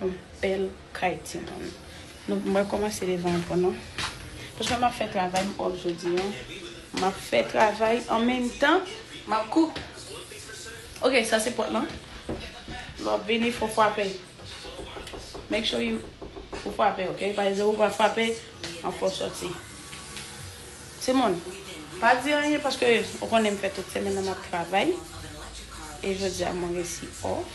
Yon bèl kay ti moun. Nou mwen komanse devan an pou nou. Paske map fè travay m off jodi an. Map fè travay an menm tan map kou. Ok sa se pot lan. Lè wap vini fò fwape. Make sure you ou fwape ok. Paske lè ou pa fwape anfè w soti. Timoun, pa di anyen paske ou konnen m fè tout semèn nan m ap travay e jodi a mwen resi off.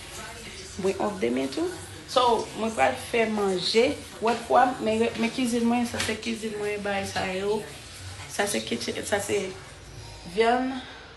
Mwen off demen tou. So, mwen pral fè manje. Wè fwa m, men kizin mwen, sa se kizin mwen, bagay sa yo, sa se, sa se vyann.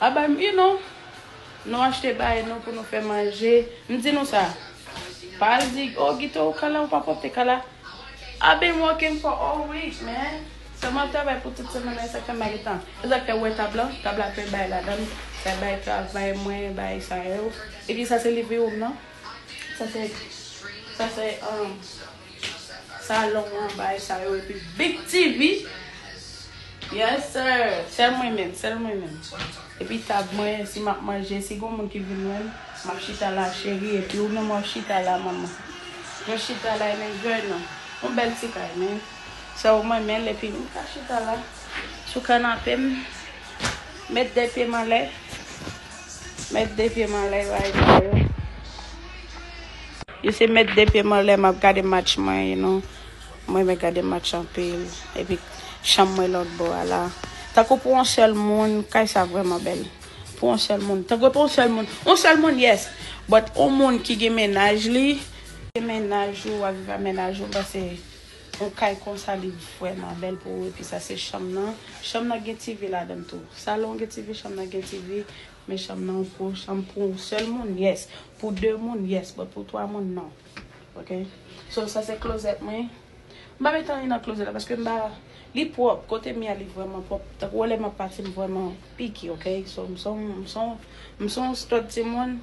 A bay m ui non. Nou achte bay nou pou nou fè manje. M di nou sa. Pa al di oh Gito ou kala ou pa pwòpte kala. I been working for all week man. Sa map travay pou tout semèn nan e sak fè m pa gen tan. E sak fè ou wè tab lan. Tab la plen bay ladan l. Sa bay travay mwen, bay sa yo. Epi sa se liv ui ou m nan. Sa se sa se umm. Sa long an bay sa yo epi big TV yes sir sel mwen menm sel mwen menm epi tab mwen si map manje si gon moun ki vin wèm map chita la cheri epi ou menm wap chita la manman mwen chita la em enjoy nan yon bèl ti kay men sè ou mwen menl epi m ka chita la sou kanapem met 2 pyem anlè. Mèt de pye m anlè yo ay sa yo. Yo se mèt de pye m anlè map gade match mwen you know. M renmen gade match anpil. Epi chanm mwen lòt bò a la. Tankou pou on sèl moun kay sa vrèman bèl. Pou on sèl moun. Tankou pou on sèl moun. On sèl moun yes. But on moun ki gen mennaj li. Gen mennaj ou ak va mennaj ou pase. Yon kay konsa li vrèman bèl pou ou epi sa se chanm nan, chanm nan gen TV ladann tou, salon an gen TV chanm nan gen TV, men chanm nan gwo, chanm pou yon sèl moun yes, pou 2 moun yes but pou 3 moun non ok so sa se klozèt mwen, m pa met anyen nan klozèt la paske m pa, li pwòp, kote m ye a li vrèman pwòp tankou wè lè m ap pati m vrèman. piki ok so m son m son m son stòt timoun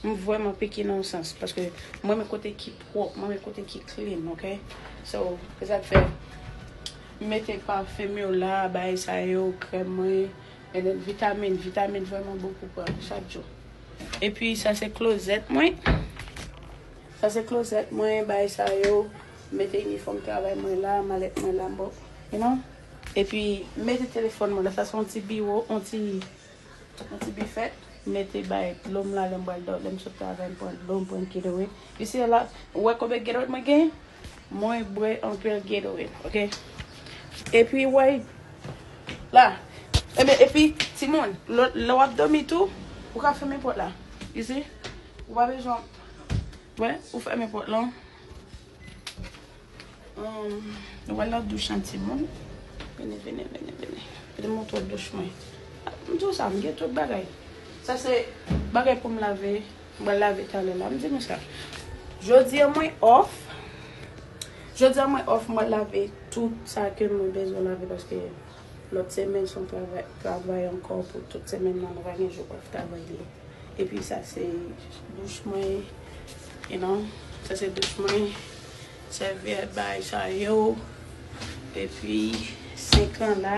m vrèman piki nan yon sans paske m renmen kote ki pwòp m renmen kote ki clean ok so se sak fè m mete parfum yo la bagay sa yo krèm mwen and then vitamin vitamin vrèman bon pou pran chak jou epi sa se closet mwen sa se closet mwen bagay sa yo m mete inifòm travay mwen la malèt mwen la m bon you know. Epi m mete telefòn mwen la, sa se yon ti biwo, yon ti bifè, m mete bay dlo m la lè m pral dò, lè m sot travay m pran dlo, m pran Gatorade. You see a lot, ou wè konbyen Gatorade mwen gen? Mwen bwè anpil Gatorade, ok. Epi ou wè la, enben epi timoun, lè w ap dòmi tou, ou ka fèmen pòt la, you see, ou pa bezwen, wè, ou fèmen pòt lan. Nou wè lòt douch lan timoun. Vini, vini, vini, vini. Mwen te montre w douch mwen. M di w sa, m gen tout bagay. Sa se bagay pou m lave. M pral lave talè la. M di nou sa. Jodi an mwen off. Jodi an mwen off. M pral lave tout sa ke mwen bezwen lave. Paske lòt semen son travay ankò pou tout semen nan. Mwen pa gen jou off travay li. Epi sa se douch mwen you know sa se douch mwen sèvyèt bagay sa yo epi sink lan la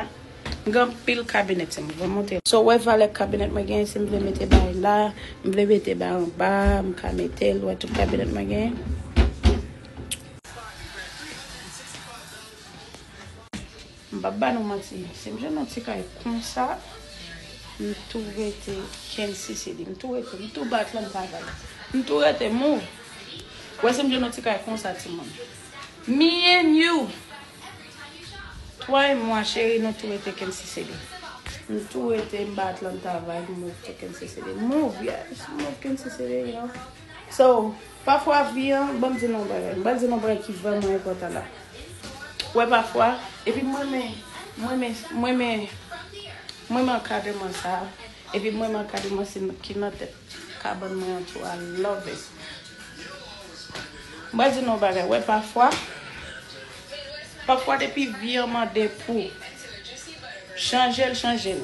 m gen anpil kabinèt se m vle monte. So wè valè kabinèt mwen gen si m vle mete bagay la m vle mete bagay anba m ka mete l wè tout kabinèt mwen gen. M pap ba nou manti sim jwenn yon ti kay konsa m tou rete knsisili m tou rete m tou bat lan m pa bay m tou rete move ou wè sim jwenn yon ti kay konsa ti moun me and you toi et moi cheri nou tou rete knsisili m tou rete m bat lan m travay m move tou knsisili move yes m move knsisili you know so. Pafwa vi an, ban m di nou yon bagay, m pral di nou yon bagay ki vrèman enpòtan la. Ou wè pafwa, epi m renmen, m renmen, m renmen, m renmen ankadreman sa a, epi m renmen ankadreman si ki nan tèt kabann mwen an tou, I love it. M pral di nou yon bagay, ou wè pafwa, pafwa depi vi an mande pou chanje l, chanje l.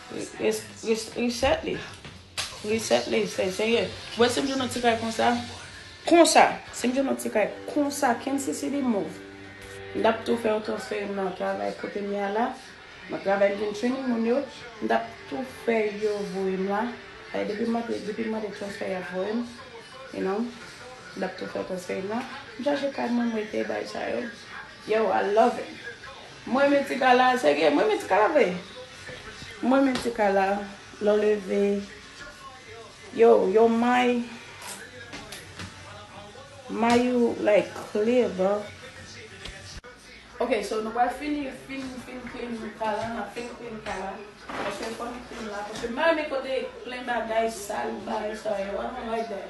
Reset li. Reset li. Seye. Wè si m jwenn yon ti kay konsa. Konsa. Si m jwenn yon ti kay konsa. Ken si si li mov. M tap tou fè yon transfè m nan travay kote m ye a la. M ap travay m vin training moun yo. M tap tou fè yo voye m la. Paske depi m mande depi m mande transfè y ap voye m. You know. M tap tou fè transfè m nan. M chache kay mwen m rete bay sa yo. Yow I love it. M renmen ti kala a chege. M renmen ti kala vre. M renmen ti kala. Lè w leve. Yo, yo may. May ou like clear bro. Ok so nou pral fini fin fin clean kala an nap fin clean kala paske fòn clean la paske m pa renmen kote plen bagay sal bagay sa yo i don't like that.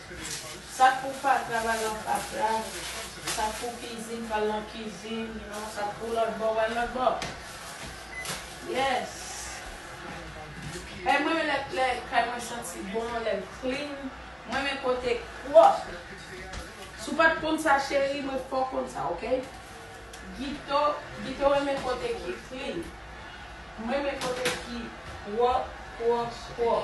Sak pou fatra bal nan fatra, sak pou kizin bal nan kizin, sak pou lòtbò bal lòtbò yes kay mwen lè lè kay mwen santi bon lèl clean m renmen kote pwòp si w pat konn sa cheri mwen fè w konn sa ok Gito Gito renmen kote ki clean m renmen kote ki pwòp pwòp pwòp.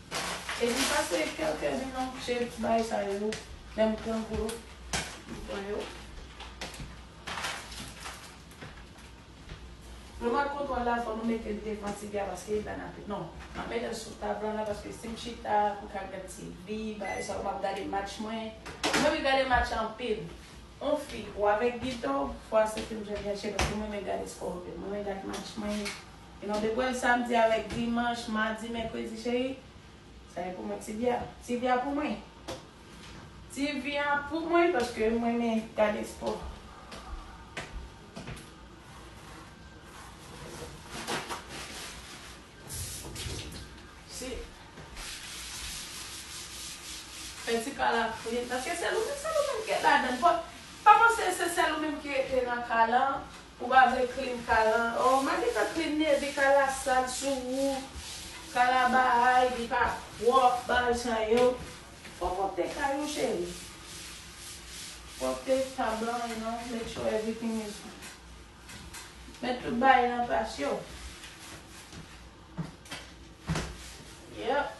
Epi sa se kèlke zin nan je bay sa yo nou lèm pran pou yo m pran yo. Remote control la fò nou metel devan TV a paske li pral nape non map metel sou tab lan la paske sim chita pou ka gad TV bagay sa yo map gade match mwen mwen renmen gade match anpil on fi ou avèk gitò fwa se film jèn jèn chè paske mwen renmen gade spò anpil mwen renmen gad match mwen. E nou te pranl samdi avèk dimanch, madi, mèkredi cheri. Sa e pou mwen TV a. TV a pou mwen. TV a pou mwen paske m renmen gade spò. Si. Fè ti kal ak Frid. Paske sèl ou menm, sèl ou menm ki ladann. Pa panse se sèl ou menm ki rete nan kal an. Ou pa vle clean kal an oh ma gentan clean Neby kal la sal sou ou kal la bahay li pa prop bal chan yo fok ou pte kay ou cheri fok ou pte ta blan you know make sure everything is met tout bagay nan plas yo yep.